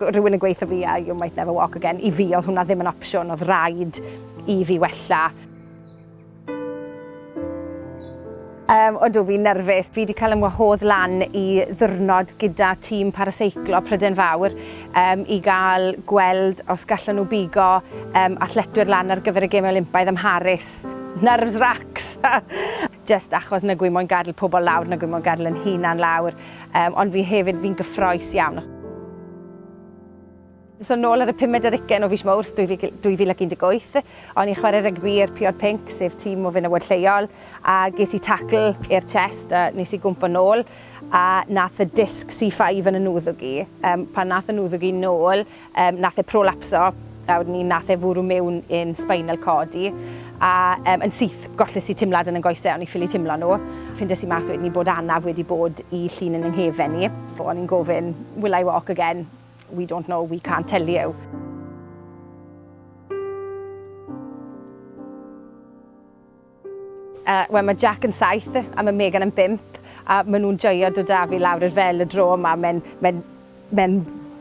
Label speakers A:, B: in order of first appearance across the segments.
A: rhywun yn gweithio fi a you might never walk again. I fi oedd hwnna ddim yn opsiwn, oedd rhaid i fi wella. Um, ond fi'n nerfus. Fi wedi cael ymwahodd lan i ddwrnod gyda tîm paraseiclo Pryden Fawr um, i gael gweld os gallan nhw bigo um, athletwyr lan ar gyfer y Gemau Olympaidd ym Mharis. Nerves racks! jyst achos nag wi moyn gadl pobl lawr, nag wi moyn gadl yn hunan lawr, yym, ond fi hefyd, fi'n gyffroes iawn. So nôl ar y pumed ar ugen o fis Mowrth 2018, o'n i'n chwarae rygbi i'r Piod Pinc, sef tîm o fenywod lleol, a ges i tacl i'r chest a nes i gwmpo nôl, a nath y disc C5 yn 'y nwddwg i, yym, pan nath y nwddwg i nôl, Yym nath e prolapso a wedyn ni nath e fwrw mewn i'n spinal cord i a yym yn syth golles i timlad yn 'yn goese o'n i ffili timlo nhw. Ffindes i mas wedyn ni bod anaf wedi bod i llun yn 'y nghefen i. O'n i'n gofyn will I walk again? We don't know, we can't tell you. Wel mae Jack yn saith a mae Megan yn bump a maen nhw'n joio dod â fi lawr i'r fel y dro yma. Mae'n mae, mae,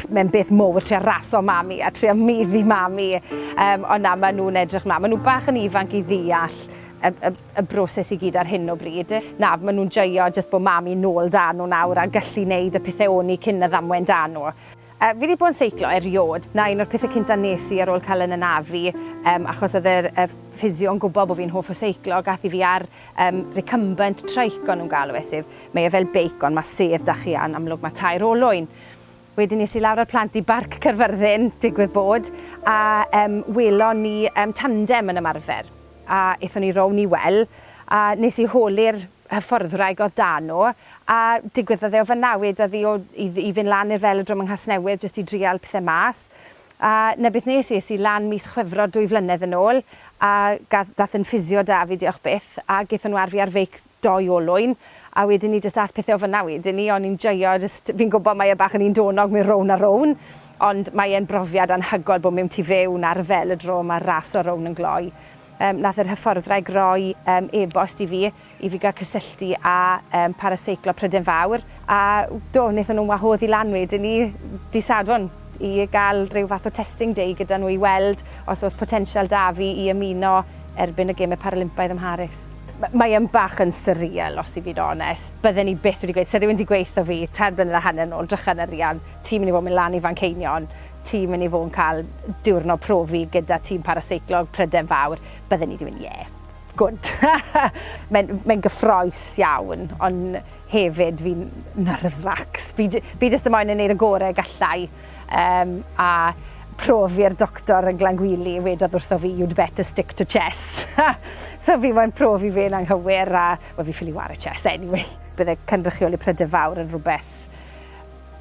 A: mae beth mowr trio raso mami a trio meddu mami. Um, ond na, maen nhw'n edrych mlaen. Maen nhw bach yn ifanc i ddeall y, y, y broses i gyd ar hyn o bryd. Na, maen nhw'n joio jyst bod mami nôl dan nhw nawr a gallu wneud y pethau o'n i cyn y ddamwen dan nhw. Yy fi 'di bod yn seiclo eriôd. 'Na un o'r pethe cynta nes i ar ôl ca'l 'yn anafu yym achos o'dd yr yy physio'n gwbo bo fi'n hoff o seiclo gath 'i fi ar yym recumbent trike o'n nw'n galw e sef mae e fel beic ond ma' sedd 'da chi a'n amlwg ma' tair olwyn. Wedyn es i lawr â'r plant i Barc Caerfyrddin digwydd bod a yym welon ni yym tandem yn ymarfer a ethon ni rownd i wel' a nes i holi'r hyfforddwraig oedd da nhw, a digwyddodd iddo fy newid oddi o i i fynd lan i'r Velodrome yng Nghasnewydd jyst i drial pethe mas, a 'na beth nes i, es i lan mis Chwefror dwy flynedd yn ôl, a gath dath e'n ffisio da fi diolch byth, a gethon nhw ar fi ar feic dou olwyn, a wedyn ni jyst ath pethe o fynna wedyn ni, o'n i'n joio jyst, fi'n gwbo mae e bach yn un donog mynd rownd a rownd, ond mae e'n brofiad anhygoel bod mewn tu fewn ar y Velodrome a raso rownd yn gloi. Yym, nath yr hyfforddwraig roi yym e-bost i fi i fi gael cysylltu â yym Paraseiclo Pryden Fawr, a do, wnaethon nhw'n wahodd i lan wedyn 'ny dydd Sadwrn i gael rhyw fath o testing day gyda nhw i weld os oes potensial 'da fi i ymuno erbyn y Gemau Paralympaidd ym Mharis. M- mae yn bach yn surreal os i fi'n onest, bydden i byth wedi gweud, 'sa rhywun 'di gweutho fi tair blynedd a hanner nôl, 'drycha yn yr Rhian, ti'n mynd i fod yn mynd lan i Fanceinion'. ti'n mynd i fod yn cael diwrnod profi gyda tîm paraseiclog Pryden Fawr, bydden ni wedi mynd, ie, gwd. Mae'n mae gyffroes iawn, ond hefyd fi'n nerves lax. Fi, fi jyst yn moyn yn gwneud y gorau gallai. Um, a profi'r doctor yn Glangwili, wedodd wrtho fi, you'd better stick to chess. so fi moyn profi fe'n anghywir, a well, fi ffili war y chess anyway. Bydde cynrychioli Pryden Fawr yn rhywbeth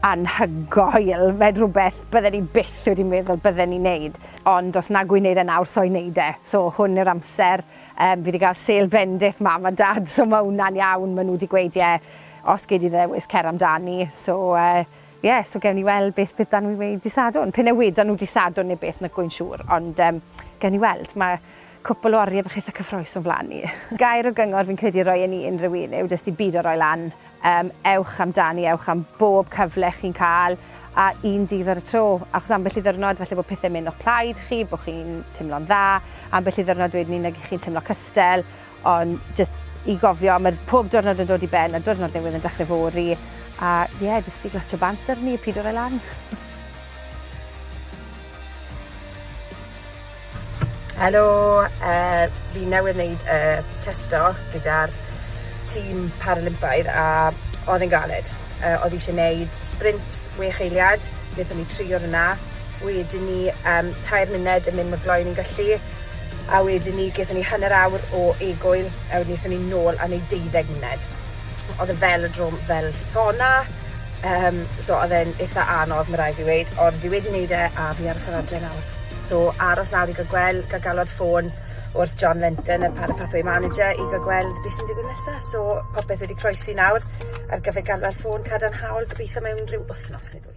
A: Anhygoel! Mae'n rhywbeth bydden i byth wedi meddwl bydden i'n neud, ond os nag wy'n neud e nawr, so i neud e. So hwn yw'r amser. Yym, fi wedi cael sêl bendith Mam a Dad, so ma' hwnna'n iawn. Ma' nhw wedi gweud, ie, os gei di ddewis, cer amdani. So yy, ie, so gewn ni weld beth beth 'da nhw i weud dy' Sadwrn. P'un a wedan nhw dy' Sadwrn neu beth, nag wy'n siŵr, ond yym, gewn ni weld. Ma'... Cwpwl o oriau bych eitha cyffroes o'n flan ni. Gair o gyngor fi'n credu roi yn i unrhyw un yw jyst i bido roi lan, yym ewch amdani, ewch am bob cyfle chi'n ca'l, a un dydd ar y tro, achos ambell i ddiwrnod falle bod pethe'n mynd o'ch plaid chi, bo' chi'n timlo'n dda, ambell i ddiwrnod wedyn 'ny nag 'ych chi'n timlo cystel, ond jyst i gofio ma' pob diwrnod yn dod i ben a diwrnod newydd yn dechre fory, a ie jyst i glatsio bant arni a pido roi lan. Helo yy fi newydd neud y testo gyda'r tîm Paralympaidd a odd e'n galed yy odd isie neud sprint wech eiliad nethon ni tri o hwnna wedyn ni yym tair munud yn mynd mor gloi a ni'n gallu a wedyn ni gethon ni hanner awr o egwyl a wedyn nethon ni nôl a neud deuddeg munud. Odd e fel y dro- fel sona yym so odd e'n itha anodd ma' rai' fi weud ond fi wedi neud e a fi ar y ffordd adre nawr. So, aros nawr i gael gwel- gael galwad ffôn wrth John Lenton, y Para Pathway Manager, i gael gweld beth sy'n digwydd nesa. So, popeth wedi croesi nawr ar gyfer galwad ffôn cadarnhaol, gobeithio mewn rhyw wythnos neu ddwy.